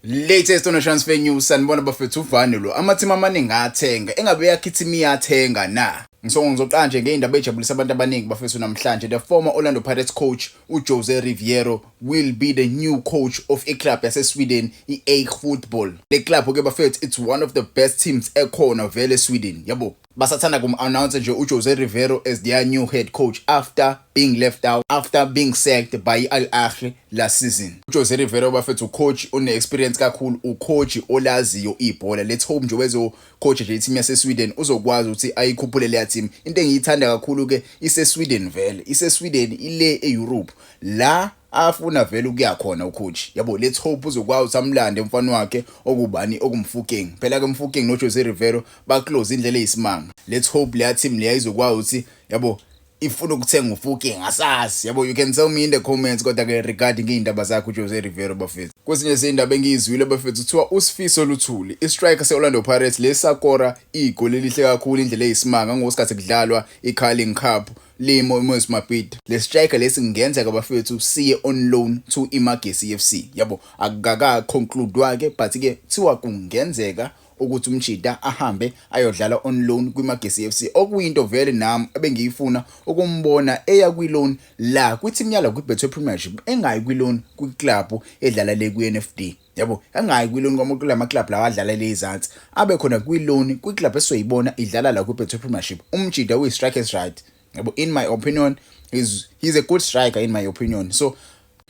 Latest on transfer news sanibona bafethu uvani lo amathima amaningi athenga engabe yakhithima iyathenga na Ngisongo ngizoqala nje ngeyindaba ejabulisa abantu abaningi bafethu namhlanje the former Orlando Pirates coach uJose Riviero will be the new coach of a club yase Sweden iAik Football le club ke bafethu it's one of the best teams ekhona vele eSweden yabo Basathanda kum-announcer nje uJose Riveiro as their new head coach after being left out after being sacked by i-Al Ahly last season. UJose Riveiro bafethu ucoach une-experience kakhulu, ucoach olaziyo ibhola. Let's hope nje wezocoach nje i-team yaseSweden uzokwazi ukuthi ayikhuphule leya team. Into engiyithanda kakhulu-ke iseSweden vele, iseSweden ile e-Europe la afuna vele ukuya khona ucoach yabo let's hope uzokwazi ukuthi amlande umfana wakhe okubani okumfukeng phela ke mfukeng noJose Riveiro ba close indlela eyisimanga let's hope leya team leya izokwazi ukuthi yabo ifuna ukuthenga ufuki ngasasi yabo you can tell me in the comments kodwa ke regarding iy'ndaba zakhe ujose rivero bafethu kwezinye zey'ndaba engiyizwile bafethu kuthiwa usifiso luthuli istriker se-orlando pirates lesakora igoli elihle kakhulu indlela eyisimanga ngosikhathi kudlalwa i-carling cup limo imoyes mabhida le striker lesi kungenzeka bafethu siye on loan to imagesi f c yabo akukaka-conclude wake but-ke kuthiwa kungenzeka ukuthi uMjita ahambe ayodlala on loan kwiMagesi FC okuyinto vele nami ebengiyifuna ukumbona eya kwi-loan la kwithimu yala kwiBetway Premiership engayi kwi-loan kwiklabhu edlala le kwi-NFD yabo engayi kwi-loan kwamukula amaklabhu lawa adlala le izansi abe khona kwi-loan kwiklabhu esoyibona idlala la kwiBetway Premiership uMjita uyi-strike as right yabo in my opinion he's, he's a good striker in my opinion so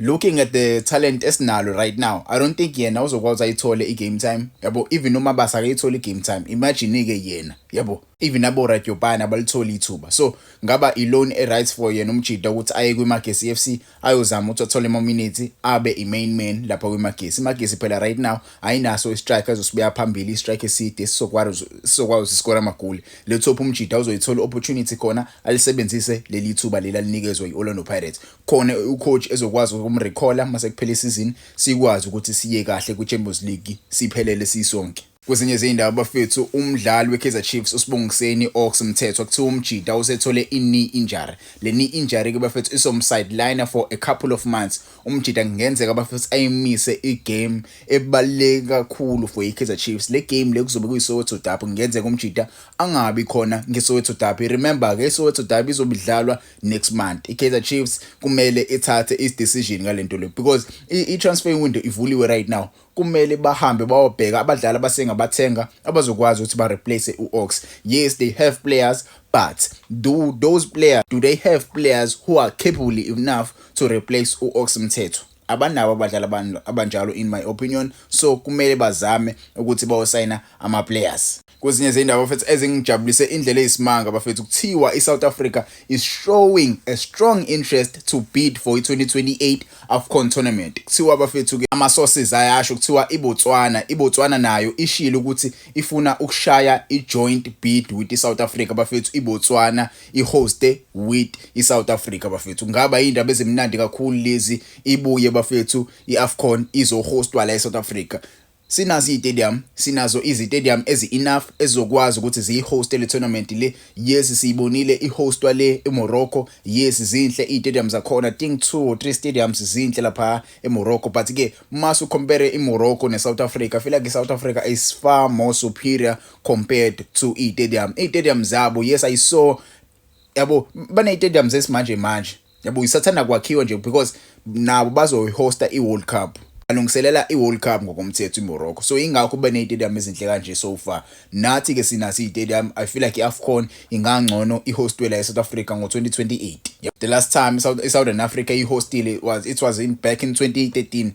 looking at the talent esinalo right now i don't think yena uzokwazi ayithole i-game time yabo even umabasa akayithole i-game time imagine-ke yena yabo even aboradyopane abalitholi ithuba so ngaba i-loan e-right for yena umjida ukuthi aye kwimagesi f c ayozama ukuthi athole amaminithi abe i-main man lapha kwimagesi imagesi phela right now ayinaso i-strike azosibuya phambili i-strike eside sizokwazi ukuthi sikora amagoli le top umjida uzoyithola i-opportunity khona alisebenzise leli thuba leli alinikezwa i-orlando pirates khona ucoach ezokwazi ukumrecalla uma sekuphela isizini sikwazi ukuthi siye kahle kwi-champions league siphelele sisonke Kwezinye izindaba bafethu umdlali weKaizer Chiefs uSibongiseni Ox Mthethwa kuthiwa umjita usethole i-knee injury. Le knee injury ke bafethu isomsideliner for a couple of months. Umjita kungenzeka bafethu ayimise igame ebaluleke kakhulu for iKaizer Chiefs. Le game le kuzobe kuyiSoweto Derby kungenzeka umjita angabi khona ngeSoweto Derby. Remember ke iSoweto Derby izobidlalwa next month iKaizer Chiefs kumele ithathe is decision ngalento le because i transfer window ivuliwe right now kumele bahambe bawobheka abadlali abasengabathenga abazokwazi ukuthi ba replace uOx yes they have players but do those players do they have players who are capable enough to replace uOx Mthetho abanabo abadlali abanjalo in my opinion so kumele bazame ukuthi bawosayina ama players Kwezinye zey'ndaba bafethu ezingijabulise indlela eyisimanga bafethu kuthiwa i-South Africa is showing a strong interest to bid for i-2028 AFCON tournament. Kuthiwa bafethu-ke ama-sources ayasho kuthiwa iBotswana, iBotswana nayo ishilo ukuthi ifuna ukushaya i-joint bid with i-South Africa bafethu iBotswana i-hoste with i-South Africa bafethu. Kungaba yindaba ezimnandi kakhulu lezi ibuye bafethu i-AFCON izohostwa la e-South Africa. Sinazo izitadium, sinazo izitadium ezi enough ezizokwazi ukuthi ziyi hoste le tournament le. Yes siyibonile i hostwa le eMorocco. Yes zinhle izitadium zakhona. Think two or three stadiums zinhle lapha eMorocco but ke masu compare iMorocco neSouth Africa, I feel like iSouth Africa is far more superior compared to izitadium. Izitadium zabo yes I saw yabo bane stadiums esimanje manje. yabo isathanda kwakhiwa nje because nabo bazoyihosta i-world cup alungiselela i-world cup ngokomthetho imorocco so ingakho ube ney'tadium ezinhle kanje so far nathi-ke sinaso iy'tadium i feel like i-afcon ingangcono ihostwe la e-south africa ngo-2028 the last time i-southern africa ihostile was it was in back in 2013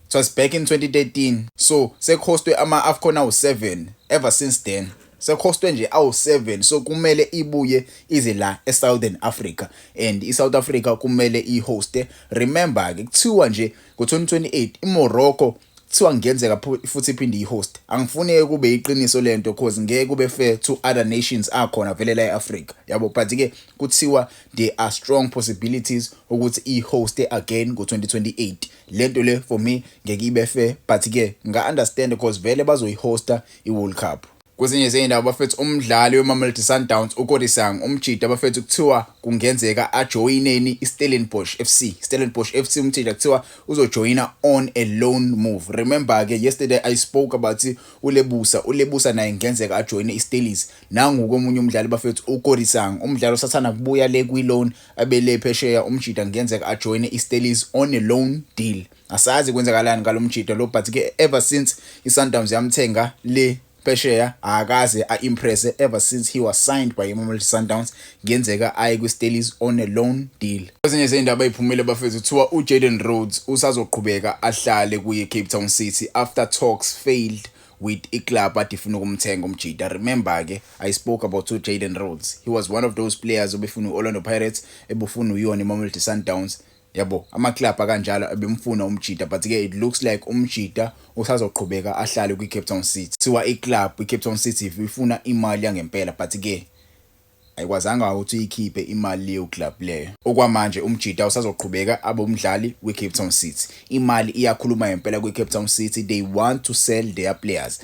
Twas back in 2013 so sekhostwe ama Afcon awu 7 ever since then sekhostwe nje awu 7 so kumele ibuye ize la e Southern Africa and i South Africa kumele i hoste remember ke kuthiwa nje ngo 2028 i Morocco kuthiwa ngenzeka futhi iphinde i-host angifuni kube iqiniso lento cause ngeke kube fair to other nations akhona vele la e-Africa yabo but ke kuthiwa there are strong possibilities ukuthi i-host again ngo-2028 lento le for me ngeke ibe fair but ke nga understand because vele bazoyihosta iWorld Cup Kwezinye zey'ndawo bafethu umdlali weMamelodi Sundowns uKorisang umjita bafethu kuthiwa kungenzeka ajoyineni iStellenbosch FC. Stellenbosch FC umjita kuthiwa uzojoyina on a loan move. Remember ke yesterday I spoke about uLebusa. ULebusa naye kungenzeka ajoyine iStellies. Nangu komunye umdlali bafethu uKorisang. Umdlali osathanda kubuya le kwi-loan abele phesheya umjita ngenzeka ajoyine iStellies on a loan deal asazi kwenzakalani ngalomjita lo but ke ever since iSundowns yamthenga le phesheya akaze aimpresse ever since he was signed by iMamelodi Sundowns ngenzeka aye kwiStellies on a loan deal ezinye izindaba eziphumile bafethu kuthiwa uJaden Rhodes usazoqhubeka ahlale kuye Cape Town City after talks failed with iclub athi ifuna ukumthenga umjita remember ke i spoke about to Jaden Rhodes he was one of those players obefuna uOrlando Pirates ebufuna uyona iMamelodi Sundowns yabo amaclub akanjalo abemfuna umjita but ke it looks like umjita usazoqhubeka ahlale kwiCape Town City siwa iclub iCape Town City ifuna imali yangempela but ke Ayikwazanga ukuthi iyikhiphe imali leyo club leyo. Okwamanje uMjita usazoqhubeka abe umdlali weCape Town City. Imali iyakhuluma ngempela kwiCape Town City, they want to sell their players.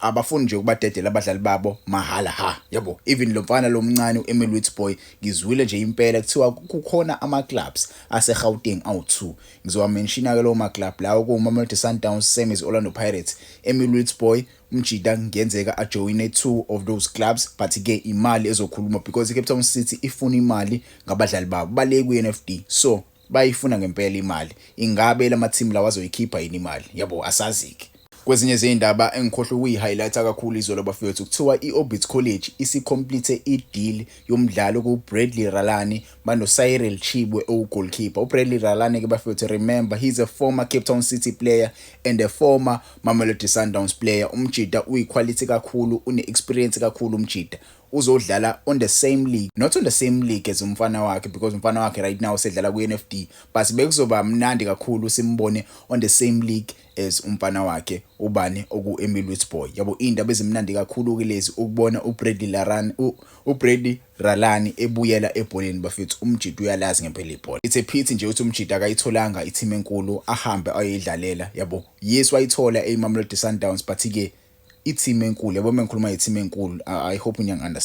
Abafuni nje ukubadedela abadlali babo mahhala ha yabo. Even lo mfana lo mncane uEmil Witbooi ngizwile nje impela kuthiwa kukhona amaclubs aseGauteng awu-2. Ngizowamenshina-ke lawo maclub lawo kuwuMamelodi Sundowns, same as Orlando Pirates, Emil Witbooi, Umjita kungenzeka ajoyine two of those clubs but ke imali ezokhuluma because iCape Town City ifuna imali ngabadlali babo bale kwiNFD so bayifuna ngempela imali ingabe lamateam lawa azoyikhipha yini imali yabo asazike Kwezinye zeyindaba engikhohlwe ukuyi-highlighta kakhulu izolo bafethu kuthiwa i-Orbit College isikhomplithe i-deal yomdlali okuwuBradley Ralani banoCyril Chibwe owugolkipa. UBradley Ralane ke bafethu remember he's a former Cape Town City player and a former Mamelodi Sundowns player. Umjita uyiquality kakhulu, une-experience kakhulu umjita. Uzodlala on the same league, not on the same league as umfana wakhe because umfana wakhe right now usedlala kwi-NFD but bekuzoba mnandi kakhulu simbone on the same league as umfana wakhe ubani oku-Emil Witsboy. Yabo iy'ndaba ezimnandi kakhulu-ke lezi ukubona uBradley Larane, uBradley Ralani ebuyela ebholeni bafethu umjita uyalazi ngempela ibhola. It's a pity nje ukuthi umjita akayitholanga i-team enkulu ahambe ayoyidlalela yabo. Yes wayithola eyiMamelodi Sundowns but ke i-team enkulu yabo mengikhuluma nge-team enkulu I hope niyang-understand.